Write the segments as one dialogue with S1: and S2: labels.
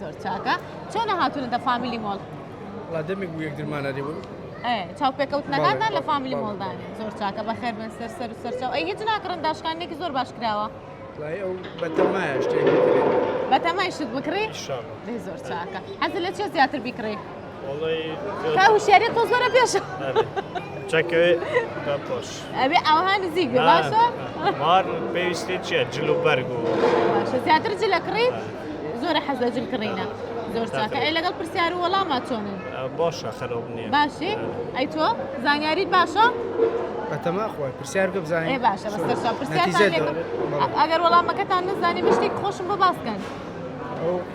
S1: زۆر چاکە چۆنە هاتونەتە فامیلی مۆڵ لا دەمێک
S2: بوو یەکترمان نەدیبوو چاو
S1: پێکەوتنەکاندا لە فامیلی مۆڵدان
S2: زۆر
S1: چاکە
S2: بە
S1: خێر بن سەر سەر و سەرچاو ئەی هیچ ناکڕن داشکانێکی زۆر باش کراوە
S2: بەتەمای شت
S1: بکڕی زۆر
S3: چاکە
S1: حەز لە چێ زیاتر بیکڕی
S3: کا هوشیاری
S1: تۆ زۆرە پێشە چەکەوێ
S3: پۆش ئەبێ ئەوها نزیک
S1: باشە مار
S3: پێویستی چیە جل و بەرگ و زیاتر
S1: جلە کڕیت زۆرە حەز لە جل کڕینە زۆر چاکە ئەی لەگەڵ پرسیار و وەڵاما چۆنن باشە خەرۆب
S3: نیە باشی ئەی تۆ
S1: زانیاریت باشە بەتەما
S2: خۆی پرسیار گە بزانێ باشە بەسەر
S1: پرسیار
S2: ئەگەر وەڵامەکەتان
S1: نزانانی بشتێک خۆشم بۆ باسکەن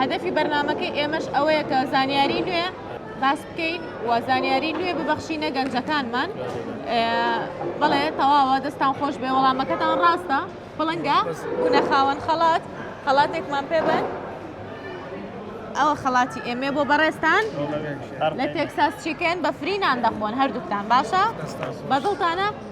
S3: هەدەفی
S1: بەرنمەکەی ئێمەش ئەوەیە کە زانیاری نوێ باس بکەین و زانیاری نوێ ببەخشینە گەنجەکانمان بەڵێ تەواوە دەستان خۆش بێ وەڵامەکەتان ڕاستە پڵنگە بوونە خاوەن خەڵات خەڵاتێکمان پێ بن ئەوە خەڵاتی ئێمێ بۆ بەڕێستان لە تێکساس چیکن بە فرینان دەخۆن هەردووکتان باشە بەدڵتانە